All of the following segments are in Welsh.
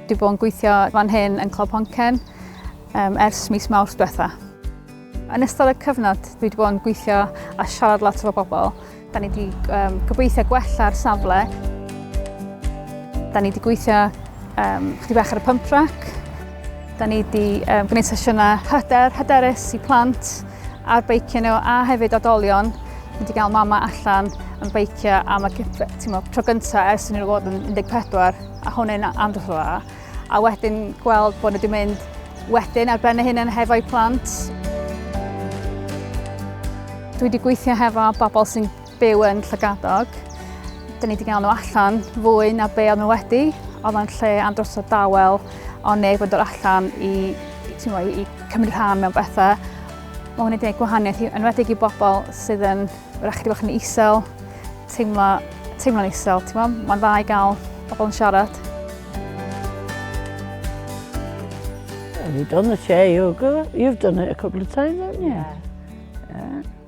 Dwi bod yn gweithio fan hyn yn Clwb Honcen um, ers mis mawrth diwetha. Yn ystod y cyfnod, dwi wedi bod yn gweithio a siarad lot efo bobl. Da ni wedi um, gobeithio gwella'r safle. Da ni wedi gweithio um, chdi bach ar y pump track. Da ni wedi um, gwneud sesiynau hyder, hyderus i plant. ar beicio nhw a hefyd oedolion wedi cael mama allan yn beicio am y tro gyntaf ers nhw fod yn 14 a hwn yn amdrwch o dda. A wedyn gweld bod nhw wedi mynd wedyn ar ben y hyn yn hefo'u plant. Dwi wedi gweithio hefo bobl sy'n byw yn Llygadog. Dyn ni wedi gael nhw allan fwy na be oedd nhw wedi. Oedd o'n lle am dros o dawel, o neb yn dod allan i, i, i cymryd rhan mewn bethau. Mae hwn wedi gwneud gwahaniaeth i enwedig i bobl sydd yn rhaid i fod yn isel, teimlo, teimlo'n isel. Mae'n dda i gael pobl yn siarad. Have you done the chair yoga? You've done it a couple of times, haven't you? Yeah. yeah.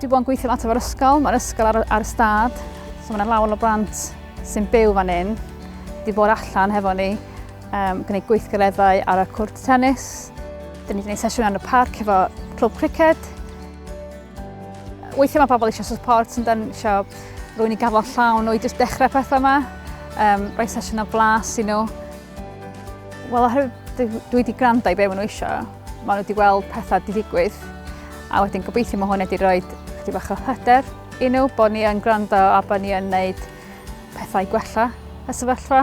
Dwi bod yn gweithio lot efo'r ysgol, mae'r ysgol ar, ar y stad, so mae'n lawer o blant sy'n byw fan hyn. Dwi bod allan hefo ni, um, gwneud gweithgareddau ar y cwrt tennis. Dyn ni wedi gwneud sesiwn ar y parc efo clwb criced. Weithiau mae pobl eisiau support, sy'n dan eisiau rwy'n i gafael llawn nhw i jyst dechrau pethau yma. Um, rhoi sesiwn o blas i nhw. Wel, oherwydd dwi wedi gwrando i be maen nhw eisiau, maen nhw wedi gweld pethau di ddigwydd, a wedyn gobeithio mae hwn wedi rhoi chdi bach o hyder i nhw bod ni yn gwrando a bod ni yn gwneud pethau gwella y sefyllfa.